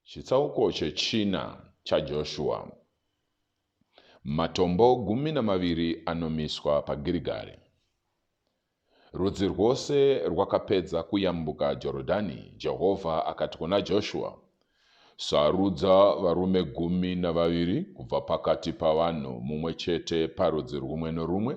Chitsauko chechina chaJoshua. Matombo gumi namaviri anomiswa paGirigari. Rudzi rwose rwakapedza kuyambuka Jorodhani, Jehovha akati kuna Joshua, Sarudza varume gumi navaviri kubva pakati pavanhu, mumwe chete parudzi rumwe norumwe,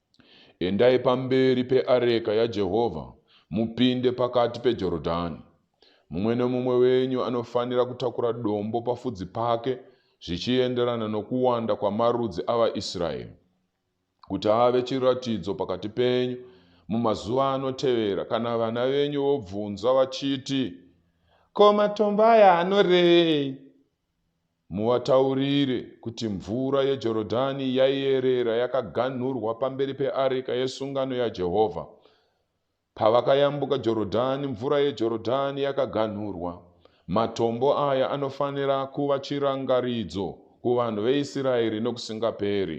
Endai pamberi peareka yaJehovha mupinde pakati peJorodhani. Mumwe nomumwe wenyu anofanira kutakura dombo pafudzi pake zvichienderana nokuwanda kwamarudzi avaIsraeri, kuti ave chiratidzo pakati penyu mumazuva anotevera. Kana vana venyu vobvunza vachiti, Ko matombo aya anorevei? Muvataurire kuti mvura yeJorodhani yaierera yakaganhurwa pamberi peareka yesungano yaJehovha. Pavakayambuka Jorodhani, mvura yeJorodhani yakaganhurwa. Matombo aya anofanira kuva chirangaridzo kuvanhu veIsraeri nokusingaperi.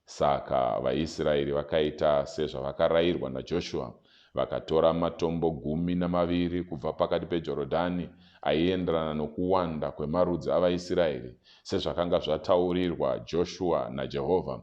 Saka vaIsraeri vakaita sezvavakarayirwa naJoshua, vakatora matombo gumi namaviri kubva pakati peJorodhani, aienderana nokuwanda kwemarudzi avaIsraeri, sezvakanga zvataurirwa Joshua naJehovha.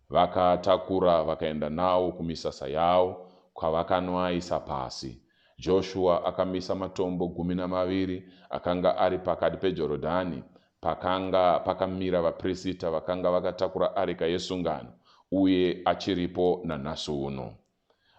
Vakaatakura vakaenda nawo kumisasa yawo, kwavakanoaisa pasi. Joshua akamisa matombo gumi namaviri akanga ari pakati peJorodhani, pakanga pakamira vapirisita vakanga vakatakura areka yesungano uye achiripo nanhasi uno.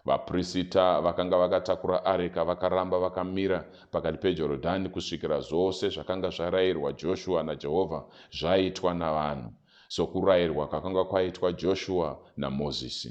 Vapirisita vakanga vakatakura areka vakaramba vakamira pakati peJorodhani kusvikira zvose zvakanga zvarayirwa Joshua naJehovha zvaitwa navanhu, sokurayirwa kwakanga kwaitwa Joshua naMozisi.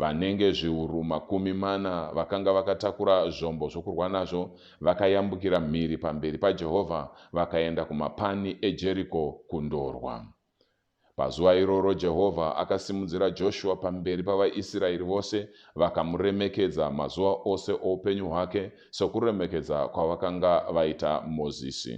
Vanenge zviuru makumi mana vakanga vakatakura zvombo zvokurwa nazvo vakayambukira mhiri pamberi paJehovha vakaenda kumapani eJeriko kundorwa. Pazuva iroro Jehovha akasimudzira Joshua pamberi pavaIsraeri vose vakamuremekedza mazuva ose oupenyu hwake sokuremekedza kwavakanga vaita Mozisi.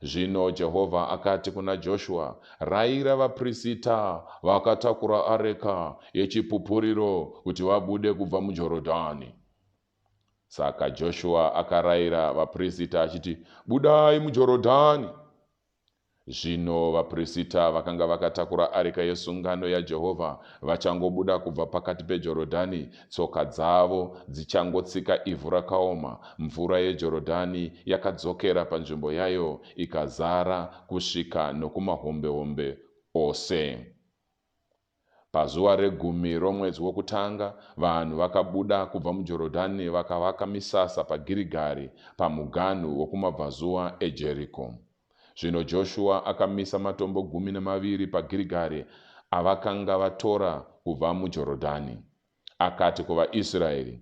Zvino Jehovha akati kuna Joshua, Rayira vaprisita vakatakura areka yechipupuriro kuti vabude kubva muJorodhani. Saka Joshua akarayira vaprisita achiti, Budai muJorodhani. Zvino vaprisita vakanga vakatakura areka yesungano yaJehovha vachangobuda kubva pakati peJorodhani, Tsoka dzavo dzichangotsika ivhu rakaoma, mvura yeJorodhani yakadzokera panzvimbo yayo ikazara kusvika nokumahombehombe ose. Pazuva regumi romwedzi wokutanga, vanhu vakabuda kubva muJorodhani vakavaka misasa paGirigari, pamuganhu wokumabvazuva eJeriko. Zvino Joshua akamisa matombo gumi nemaviri paGirigari avakanga vatora kubva muJorodhani. Akati kuvaIsraeri,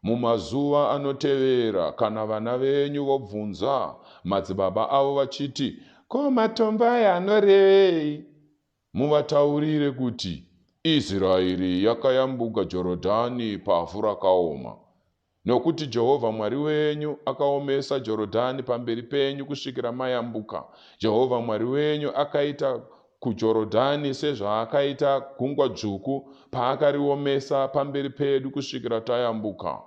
Mumazuva anotevera kana vana venyu vobvunza madzibaba avo vachiti, Ko matombo aya anorevei? Muvataurire kuti, Israeri yakayambuka Jorodhani pavhu rakaoma, nokuti Jehovha Mwari wenyu akaomesa Jorodhani pamberi penyu kusvikira mayambuka. Jehovha Mwari wenyu akaita kuJorodhani sezvaakaita Gungwa Dzvuku paakariomesa pamberi pedu kusvikira tayambuka.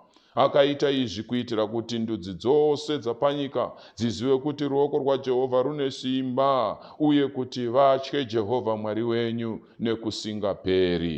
Akaita izvi kuitira kuti ndudzi dzose dzapanyika dzizive kuti ruoko rwaJehovha rune simba uye kuti vatye Jehovha Mwari wenyu nekusingaperi.